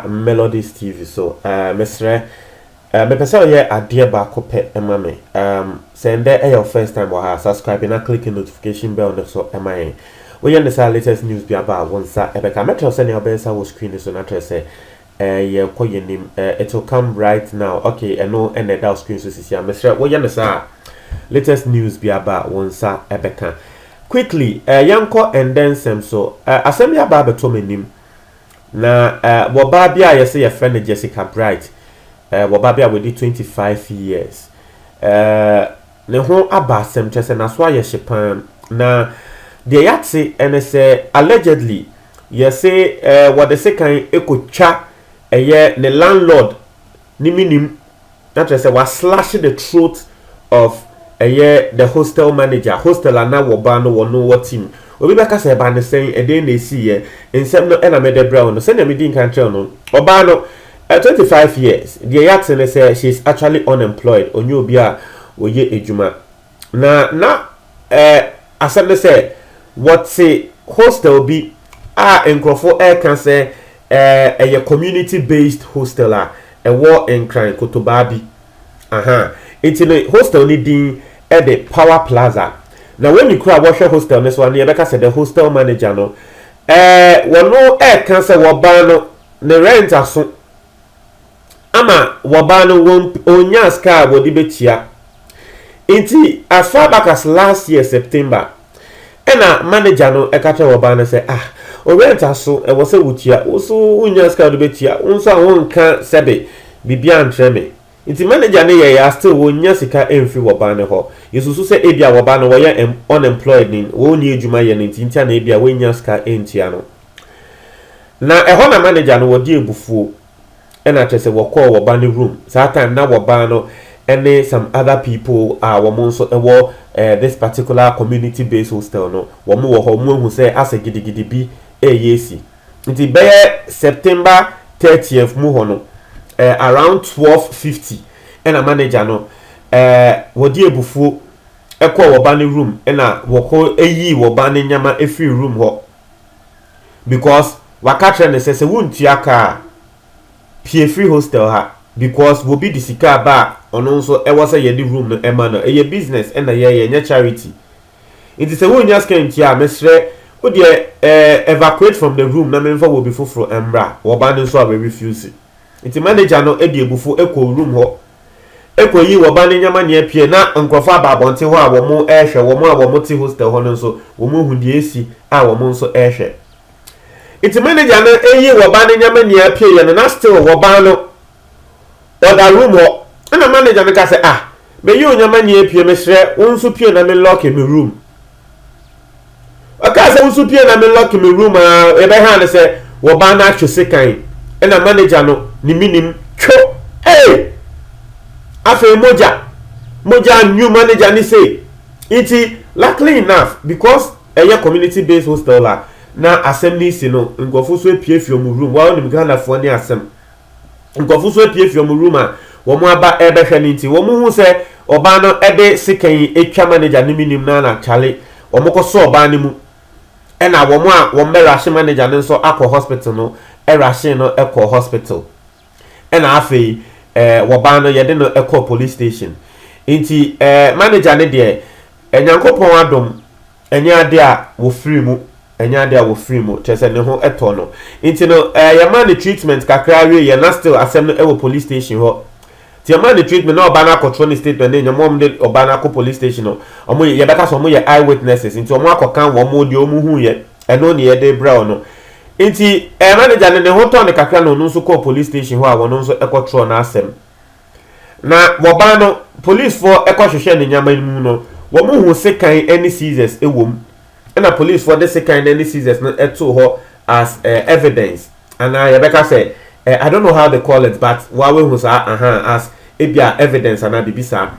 Melodies TV so ɛɛ mesrɛ ɛɛ mepɛ sɛ ɔyɛ adeɛ baako pɛ ɛma me ɛɛm sɛ ndɛ ɛyɛ o first time wɔ ha subscribe na click notification bell no so ɛma yɛn woyɛ ne saa latest news bi aba a wɔn nsa ɛbɛka mɛtwerɛ sɛ nea ɔbɛyɛ sa wɔ screen so na kyerɛ sɛ Eh yɛ kɔ yɛ nim eh it will come right now ok ɛno ɛna ɛda wo screen so sisi a mesrɛ wo yɛ no saa a latest news bi aba a wo nsa ɛbɛka quickly eh yɛn kɔ ɛndɛ nsɛm so eh asɛm bi aba abɛtɔ m'anim na eh wɔ baa bi a yɛsɛ yɛfrɛ no Jessica Bright eh wɔ baa bi a wɔdi 25 years eh Ne ho aba asɛm, kyerɛ sɛ n'aso ayɛ hye paa. Na deɛ yɛate ne sɛ allegedly yɛse eh, wɔde sekan kɔtwa ɛyɛ ne landlord ne menim na kyerɛ sɛ waslash the throat of ɛyɛ the hostel manager, hostel a na wɔba no wɔno wɔ team. Obi bɛka sɛ ɛba ne sɛn, ɛdɛn na ɛsiiɛ, nsɛm no ɛna mede brɛ wo no. Sɛdeɛ medi nkan kyerɛ no, ɔbaa no At twenty five years, deɛ yɛate ne sɛ she is actually unemployed, ɔnyɛ obi a ɔyɛ adwuma. Na na eh, asɛm ne sɛ wɔte hostel bi a nkurɔfo reka sɛ eh, ɛyɛ community based hostel a ɛwɔ Nkran kotobaa bi. Aha, nti no hostel no din de Power Plaza. Na wɔn ni koro a wɔhwɛ hostel no so a, na yɛbɛka sɛ the hostel manager no eh, wɔno reka sɛ wɔbaa no, Ne rent aso ama wɔbaa no wɔn ɔnyaa sika a wɔde bɛtua nti as far back as last year September ɛna manager no ɛka kyerɛ wɔbaa no sɛ ah wo rent aso ɛwɔ sɛ wotua wo so wonyaa sika a wode bɛtua wo nso a wonka sɛbe biribi antrɛ me nti manager no yɛɛ a still wɔnnya sika mfiri wɔbaa no hɔ yɛsusu sɛ ebia wɔbaa no wɔyɛ unemployed wɔnni adwuma yɛ no nti nti a na ebia wɔnnya sika ntua no. Na ɛhɔ na manager no wɔgye abufuo ɛna kyerɛ sɛ wɔkɔɔ wɔba no room saa time na wɔbaa no ɛne some other people a wɔn nso ɛwɔ eh, this particular community based hostel no wɔn wɔ hɔ wɔn ahu sɛ asɛ gidigidi bi ɛyɛ esi nti bɛyɛ September 30th mu hɔ no eh, around 12:50 ɛna manager no eh, wɔgye abufuo ɛkɔɔ wɔba no room ɛna wɔkɔ ɛyii wɔba no nneɛma ɛfiri room hɔ because waka kyerɛ no sɛ sɛ wontua ka a pue firi hostel ha because wɔ bi de sika aba a ɔno nso ɛwɔ sɛ yɛde room no ɛma no ɛyɛ business ɛna yɛyɛ ɛnyɛ charity nti sɛ wonnya sika ntua a mesrɛ wo deɛ eh, evacuate from the room na memfa wɔ bi foforo ɛmmra wɔ ba no nso a wɛ refuse. Enti manager no de abufuo kɔɔ room hɔ kɔyii wɔn ba no nneɛma nyinaa pue. Na nkurɔfoɔ aba abɔnten hɔ a wɔrehwɛ. Wɔn a wɔte hostel hɔ no nso, wɔahu deɛ asi a wɔn nso rehwɛ. Enti manager no yii wɔn ba no nneɛma nyinaa pueeɛ no, na still wɔn ba no ɔda room hɔ. Ɛna manager no ka sɛ, Ah, meyi wo nneɛma nyinaa pue, mesrɛ wo nso pue na me lock me room. ɔkaa sɛ woso pie na me lock me room a yɛbɛha no sɛ wɔbaa no atwe sekan ɛna manager no ne menim two ee afei mogya mogya new manager ne sei nti luckily enough because ɛyɛ community based hostel a na asɛm ne si no nkurɔfo so apiefie ɔmo room wa wonim Ghanafoɔ ne asɛm nkurɔfo nso apue afi wɔn room a wɔaba rebɛhwɛ no nti, wɔhuu sɛ ɔbaa no de sekan atwa manager no menim no ana kyale. Wɔkɔsɔ ɔbaa no mu ɛna wɔn a wɔbɛrahye manager no nso akɔ hospital no rahyee no kɔɔ hospital. Ɛna afei ɛɛ wɔbaa no yɛde no kɔɔ police station. Nti ɛɛ manager no deɛ Nyankopɔn adom Ɛnyɛ ade a wɔfiri mu. Ɛnyɛ ade a wɔfiri mu, kyerɛ sɛ ne ho tɔ no. Nti no, eh, yɛmaa no treatment kakra wieeɛ, na still asɛm no wɔ police station hɔ. Nti yɛmaa no treatment na ɔbaa no akɔtwerɛ ne statement ne nneɛma, wɔn de ɔbaa no akɔ police station no, wɔn yɛ, yɛbɛka sɛ wɔn yɛ eye witnesses, nti wɔn akɔka wɔn deɛ wɔn huiɛ, ɛno ne yɛde brɛ wɔn. Nti eh, manager no ne ho tɔ no kakra na ɔno nso kɔɔ police station hɔ a ɔno nso kɔtwerɛɛ n'asɛm. Na wɔbaa no, polisfoɔ kɔhwehwɛɛ ne nneɛma no mu no, wɔhuu sekan ne scissors wɔ mu, ɛna polisfoɔ de sekan no ne scissors no too hɔ as evidence, anaa yɛbɛka sɛ, I don't know how they call it but woa woahu saa, aha, as ebia evidence anaa biribi saa.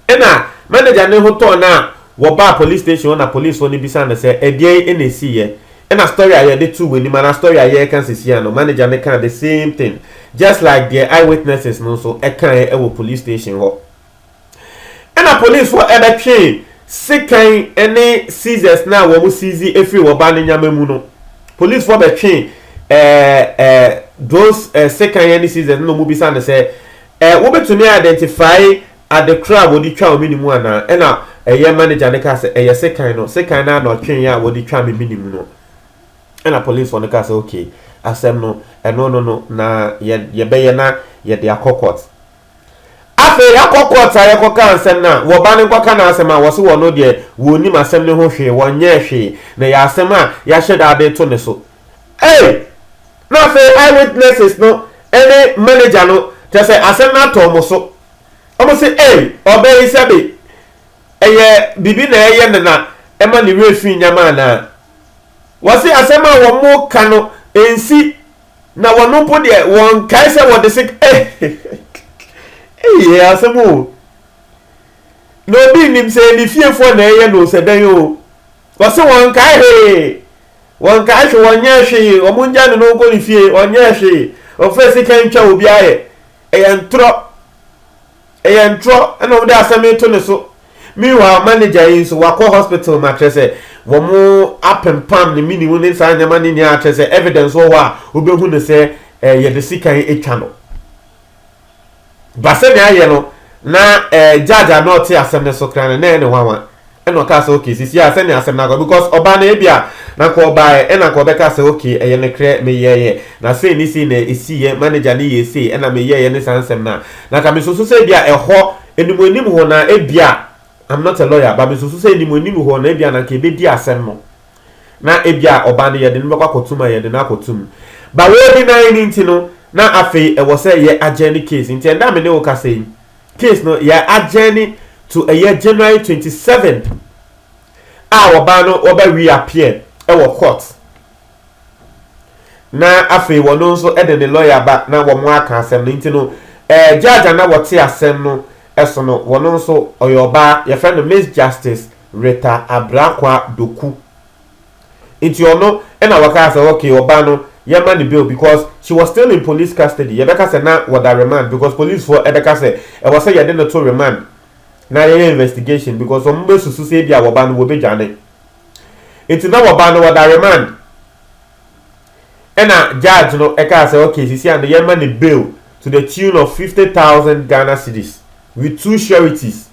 Nna manager no ho tɔɔ no a wɔbaa police station hɔ na policefo no bisaa no sɛ ɛdeɛn na ɛsiiɛ. Nna story a yɛde too w'anim anaa story a yɛreka sesia no, manager no kaa the same thing just like deɛ eyewitnesses no nso kaeɛ wɔ police station hɔ. Nna policefo bɛtwe sekan ne seizures no a wɔn seize firi wɔ ba no nyama mu no, policefo bɛtwe eh, eh, those eh, sekan ne seizures no na wɔn bisaa no sɛ Ɛ, wobetumi a identify ade koro a wɔde twa wo mini mu anaa? Ɛna ɛyɛ manager no kaa sɛ, ɛyɛ sekan no, sekan no ara na ɔtwee a wɔde twaa me mini mu no. Ɛna police fo no kaa sɛ, okay, asɛm no, ɛno no no, na yɛ, yɛbɛyɛ na yɛde akɔ court. Afei yɛakɔ court a yɛkɔ kaa nsɛm no a, wɔ ba no nkɔ ka n'asɛm a, wɔse wɔno deɛ wɔnnim asɛm no ho hwee, wɔnyɛɛ hwee, na ɛyɛ asɛm a yɛahyɛ da de to ne so. Ei! Na afei Eyewitnesses no ne manager no, kyerɛ sɛ asɛm no atɔ wɔn so. Wɔse, Ei! Ɔbaa yi sɛbe ɛyɛ biribi na ɛreyɛ no na ɛma ne werɛ fi nneɛma anaa? Wɔse asɛm a wɔreka no nsi na wɔn mpo deɛ wɔnkae sɛ wɔde sik Ei! Ɛyɛ asɛm o! Na obi nnim sɛ ɛyɛ ne fiefoɔ na ɛreyɛ no o, sɛ dɛn o. Wɔse wɔnkae hwee, wɔnkae hwe wɔnyɛɛ hwee, wɔn ngya ne no nkɔ ne fie ɔnyɛɛ hwee, ɔfaa sika ntwa obi ayɛ, ɛyɛ ntorɔ, ɛyɛ ntorɔ ɛna wɔde asɛm yi to ne so, meanwhile manager yi nso wakɔ hospital ma kyerɛ sɛ wɔn apempam ne mini wo ne saa nneɛma no nyinaa kyerɛ sɛ evidence wɔ hɔ a wobɛhu no sɛ yɛde sika yi atwa no. Ba sɛnea ayɛ no, na ɛɛ judge a na ɔte asɛm no so koraa no, na ɛyɛ no nwanwa. Ɛna ɔkaa sɛ, okay, sisi a sɛnea asɛm no akɔ, because ɔbaa no ebi a, na nka ɔbaeɛ, ɛna nka ɔbɛka sɛ, okay, ɛyɛ nokorɛ, meyɛeɛ, na sei ne sei na ɛsiiɛ, manager no yɛɛ sei, ɛna meyɛeɛ ne saa nsɛm no a, na nka mesusu sɛ ebi a ɛhɔ, anim anim hɔ no, na ebi a, I'm not a lawyer, but mesusu sɛ anim anim hɔ no, ebi a na nka ɛbɛdi asɛm no. na ebia ɔba no yɛde no bɛkɔ akɔtum a yɛde no akɔtum ba wɔdi nae no nti no na afei ɛwɔ sɛ yɛ adjourn case nti ɛnda a me ne wo kasa yi case no yɛ adjourn to ɛyɛ January 27 a ɔbaa no ɔbɛ reappear ɛwɔ court na afei wɔno nso ɛde ne lawyer ba na wɔn aka asɛm no nti no ɛɛ judge a na wɔte asɛm no ɛso no wɔno nso ɔyɛ ɔbaa yɛfrɛ no Miss Justice Rita Abrakwa Doku. Nti ɔno na wɔkaa sɛ okay ɔba no yɛma no bail because she was still in police custody, yɛbɛka sɛ na wɔda remand because policefoɔ bɛka sɛ ɛwɔ sɛ yɛde no to remand na yɛyɛ investigation because wɔn bɛsusu sɛ ebia wɔba no wɔbɛdwane. Nti na wɔba no wɔda remand ɛna judge no kaa sɛ okay sisi ano yɛma no bail to the tune of fifty thousand Ghana cedis with two sureties.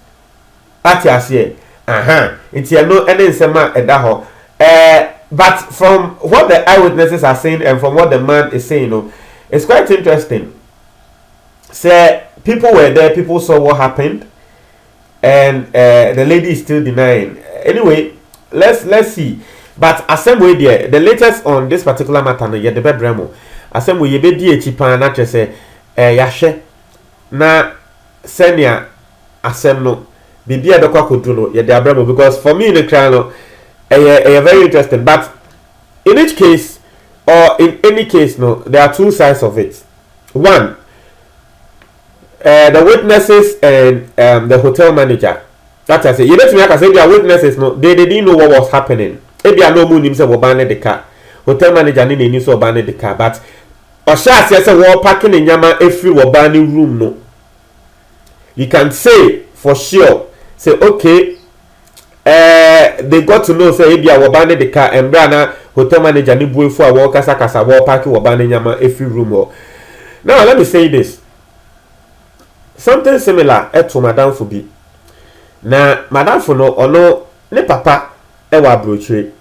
Wate aseɛ? Ahaa. Nti ɛno ne nsɛm a ɛda hɔ. Ɛɛ, but from what the eyewitnesses are saying and from what the man is saying no, it's quite interesting. Sɛ people were there, people saw what happened, and uh, the lady is still denying. Anyway, let's let's see. But asɛm wei deɛ, the latest on this particular matter no, yɛde bɛbrɛ mo. Asɛm wei yɛbɛdi akyi paa na kyerɛ sɛ, ɛɛ yɛahwɛ na sɛnea asɛm no biribi a ɛbɛkɔ akɔdu no yɛde abrɛ mo because for me no koraa no ɛyɛ ɛyɛ very interesting but in each case or in any case no there are two sides of it one uh, the witnesses and um, the hotel manager that I say yɛbɛtumi aka sɛ ebia witnesses no they, they didn't know what was happening ebia na ɔmu nim sɛ wɔba ne de ka hotel manager ne n'ani sɛ ɔba ne de ka but ɔhyɛ aseɛ sɛ wɔpake ne nneɛma efiri wɔba ne room no you can say for sure sɛ okay eh, they got to know sɛ ebi a wɔba ne de ka mmerɛ a na hotel manager ne buefo a wɔrekasakasa wɔrepaake wɔba ne nneɛma efiri room hɔ now let me say this something similar ɛto madamfo bi na madamfo no ɔno ne papa ɛwɔ aburokyire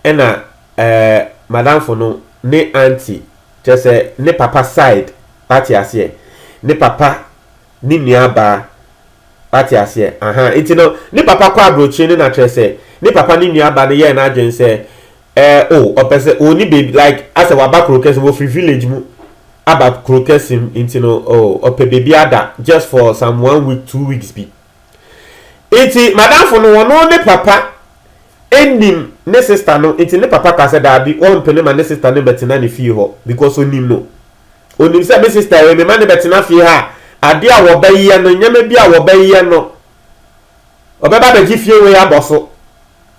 ɛna ɛɛ madamfo no ne auntie. Kyerɛ sɛ ne papa side wate aseɛ ne papa ne nua baa wate aseɛ ahaa nti no ne papa kɔ abrokyire no na kyerɛ sɛ ne papa ne nua ba no yɛɛ no adwene sɛ ɛɛ o ɔpɛ sɛ ɔni baby like asɛ waba kuro kɛse wɔ firi village mu aba kuro kɛse mu nti no o ɔpɛ baby ada just for some one week two weeks bi. Nti madamfo no ɔno ne papa nim ne sister no nti ne papa kaa sɛ daabi ɔmpene ma ne sister no bɛtena ne fie hɔ because ɔnim no. Ɔnim sɛ me sister wei mema no bɛtena fie ha a adeɛ a wɔbɛyɛ no nneɛma bi a wɔbɛyɛ no ɔbɛba abɛgye fie wei abɔ so.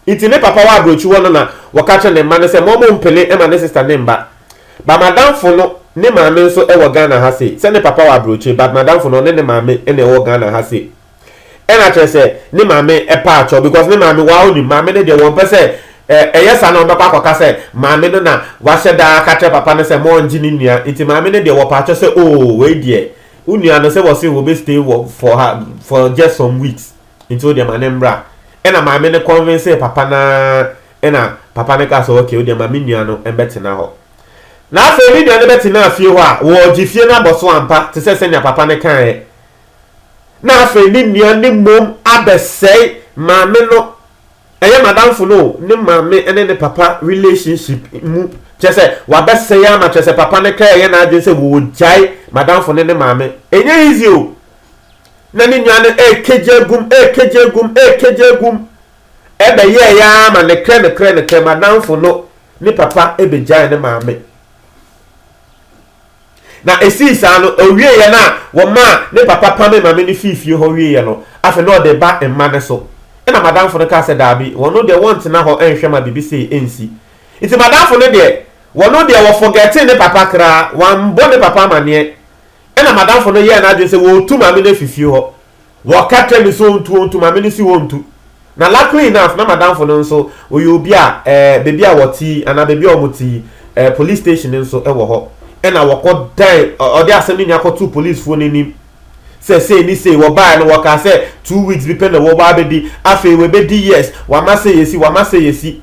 Ntsi ne papa wɔ aborɔkyir hɔ no na wɔka kyerɛ ne mba no sɛ ma ɔmɔ mmpene mma ne sister ne mba. But m'adamfo no ne maame nso wɔ Ghana ha sei. Sɛ ne papa wɔ aborɔkyir but m'adamfo no ɔne ne maame na ɛwɔ Ghana ha sei. Ɛna kyerɛ sɛ ne maame paa kyɛw because ne maame waa onim. Maame no deɛ wɔmpɛ sɛ ɛyɛ saa na wɔbɛkɔ akɔka sɛ maame no na wahyɛ da aka kyerɛ papa no sɛ ma ɔngye ne nua. Ntsi maame no deɛ wɔpaa kyɛw sɛ oh wei deɛ wo nua no sɛ wɔse wɔbɛ stay wɔ for ha for just some weeks. Nti wodeɛ ma no mbra. Ɛna maame no convincee papa no ara ɛna papa no kaa sɛ ok wodeɛ ma me nua no mbɛtena hɔ. Na afei ne nua no bɛtenaa fie hɔ a wɔɔgye fie no abɔso ampa te sɛ sɛnea papa no kaeɛ. Na afei ne nua no mmom abɛsɛe maame no, ɛyɛ madamfo no o, ne maame ne ne papa relationship mu, kyerɛ sɛ wabɛsɛe ama kyerɛ sɛ papa no kra yɛ n'adwene sɛ wɔɔgyae madamfo no ne maame. Ɛnyɛ easy o, na ne nua no rekegye agum, rekegye agum, rekegye agum. Ɛbɛyɛɛ yɛ ara ma nokorɛ nokorɛ nokorɛ m'adamfo no ne papa bɛgyae ne maame. Na ɛsii saa no, ɔwieeɛ no a wɔmaa ne papa pame maame no fii fie hɔ wieeɛ no, afei na ɔde ba mma no so. Ɛna m'adamfo no kaa sɛ, Daabi, wɔn deɛ wɔntena hɔ nhwɛ ma biribi sei nsi. Nti m'adamfo no deɛ, wɔn deɛ wɔfɔgɛtee ne papa koraa, wɔammɔ ne papa amaneɛ. Ɛnna m'adamfo no yɛɛ n'adwene sɛ wɔretu maame no afi fie hɔ. Wɔka kyerɛɛ no sɛ ɔntu, ɔntu, maame no si hɔ ntu. Na luckily enough, na m'adamfo no nso, ɔyɛ obi a eh, baabi a wɔte yi, anaa baabi a wɔte yi, eh, police station nso wɔ hɔ. Ɛnna wɔkɔdan, ɔ- ɔde asɛm no nyinaa kɔtoo policefoɔ no anim sɛ sei ne sei, wɔbaeɛ no wɔkaa sɛ two weeks bi pɛ na wɔbɔ abɛdi, afei wɔbɛdi years, wama sɛ yɛsi, wama sɛ yɛsi.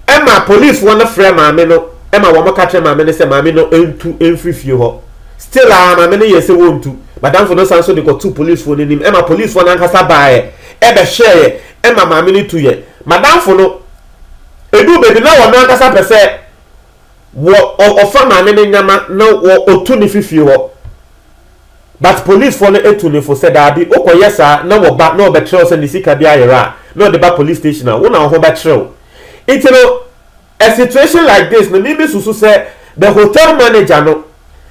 Ɛma policefoɔ no frɛ maame no ma wɔn ka kyerɛ maame no sɛ maame no ntu mfiri fie hɔ. Still a maame no yɛɛ sɛ wɔntu. Madamfo no san so de kɔtoo policefoɔ no anim ɛma policefoɔ no ankasa baeɛ ɛbɛhwɛeɛ ɛma maame no tuiɛ. Madamfo no ɛduu baabi na ɔno ankasa pɛ sɛ wɔ ɔfa maame no nyama na ɔtu no firi fie hɔ. But policefoɔ no atu no fo sɛ daabi, wokɔyɛ saa na wɔba na wɔbɛkyerɛ wo sɛ ne sika bi ayera a, na wɔde ba police station a, wo na wo ho bɛkyere wo. Nti no, a situation like this no, me mesusu sɛ the hotel manager no,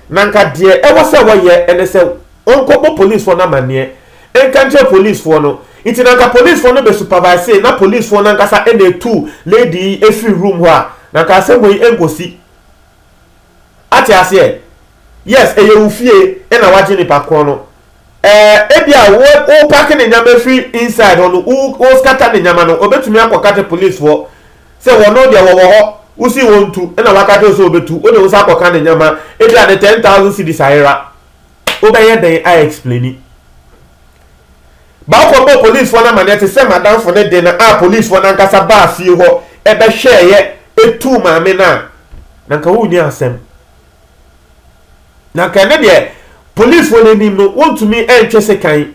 na nka deɛ ɛwɔ sɛ wɔyɛ ne sɛ ɔnkɔbɔ policefoɔ no amanneɛ nka nkyerɛ policefoɔ no. Nti na nka policefoɔ no bɛsupervisee na policefoɔ no ankasa na ɛtu lady yi firi room hɔ a, na nka asɛm wei nkɔsi. Ate aseɛ? Yes, ɛyɛ wo fie ɛna wagye nipa korɔ no. Ɛɛ ebia wo wo pake ne nneɛma firi inside hɔ no, wo wo scatter ne nneɛma no, ɔbɛtumi akɔ ka kyerɛ police foɔ sɛ wɔno deɛ wɔwɔ hɔ, wo sii wɔn ntu ɛna waka kyerɛ wo sɛ ɔbɛtu, wo de wo nsa akɔ ka ne nneɛma, ebia ne ten thousand cedis ayera. Wo bɛyɛ dɛn a explaini? Ba kɔ bɔɔ police foɔ no amaneɛ te sɛ madamfo no de no a police foɔ no ankasa baa fie hɔ ɛbɛhwɛɛyɛ ɛtuu maame no a, na nka wo nni asɛm. Na nka ɛno deɛ polisfoɔ no anim no wɔntumi ntwe sekan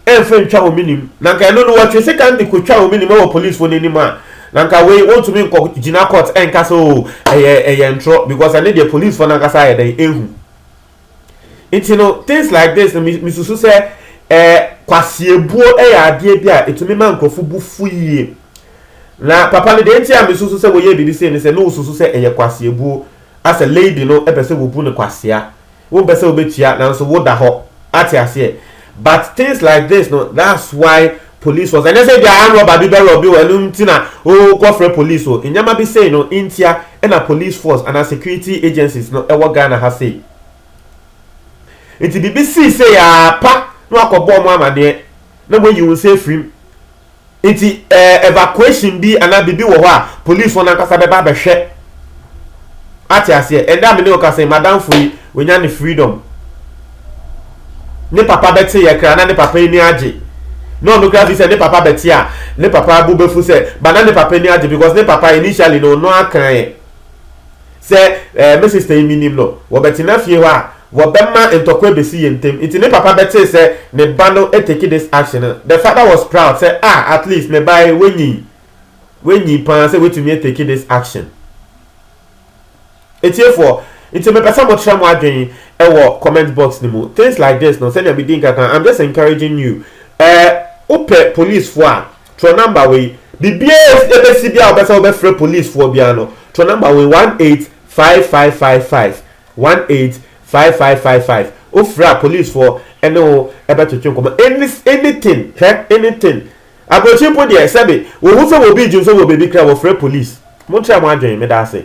mfa ntwa wɔn anim. Na nka ɛno no wɔtwe sekan de kɔtwa wɔn anim wɔ polisfoɔ no anim a, na nka wei wɔntumi nkɔ gyina court nka sɛ o ɛyɛ ɛyɛ ntorɔ because ɛno deɛ polisfoɔ no ankasa ayɛ dɛn ehu. Nti no things like this no mesusu sɛ ɛɛ kwasiebuo yɛ adeɛ bi a ɛtumi ma nkurɔfo bu fu yie. Na papa no deɛ nti a mesusu sɛ wɔyɛ biribi sei ne sɛ na wɔsusu sɛ ɛyɛ kwasiebuo. a sɛ lady no pɛ sɛ wobu no kwasea wopɛ sɛ wobɛtua nanso woda hɔ ate aseɛ but things like this no that's why police force ɛnyɛ sɛ bia arm robber bi bɛ robbe wo ɛno nti na wo kɔ frɛ police o nneɛma bi sei no ntia ɛna police force anaa security agencies no ɛwɔ Ghana ha sei nti biribi sii sei aa pa na wakɔ bɔ ɔmo amaneɛ na moayi wo nsa afirim Nti ɛɛ evacuation bi anaa biribi wɔ hɔ a police wɔn ankasa bɛba abɛhwɛ ate aseɛ ɛnɛ a me ne wo kasa yi madamfo yi wanya ne freedom ne papa bɛte yɛ kra na ne papa ani agye na ɔno kra fi sɛ ne papa bɛte a ne papa abu bɛfu sɛ ba na ne papa ani agye because ne papa initially no ɔno akan Sɛ eh, me sista yi minim no, wɔbɛtena fie hɔ a, wɔbɛma ntɔkwa abesi yɛn ntam. Nti ne papa bɛtee sɛ ne ba no atake this action no, the father was proud sɛ, Ah, at least me ba yi, wanyin. Wanyin pa ara sɛ watumi atake this action. Atiefoɔ, nti mepɛ sɛ motra mo adwene ɛwɔ comment box no mu. Things like this no, sɛnea medi nka kan, I'm just encouraging you. Eh, wopɛ policefoɔ a, Twerɛ number wei. Biribiara a ɛbɛsi biara a wobɛsɛ wobɛfrɛ polisfoɔ biara no, twerɛ number wei, one eight five five five five, one eight five five five five. Wofrɛ a polisfoɔ ne wo bɛtwetwe nkɔmmɔ. Any anything hɛ anything. Aburokyire mpo deɛ sɛbe wɔhu sɛ wɔbi regye nso wɔ baabi koraa a wɔfrɛ polis. Montry mo adwene, meda ase.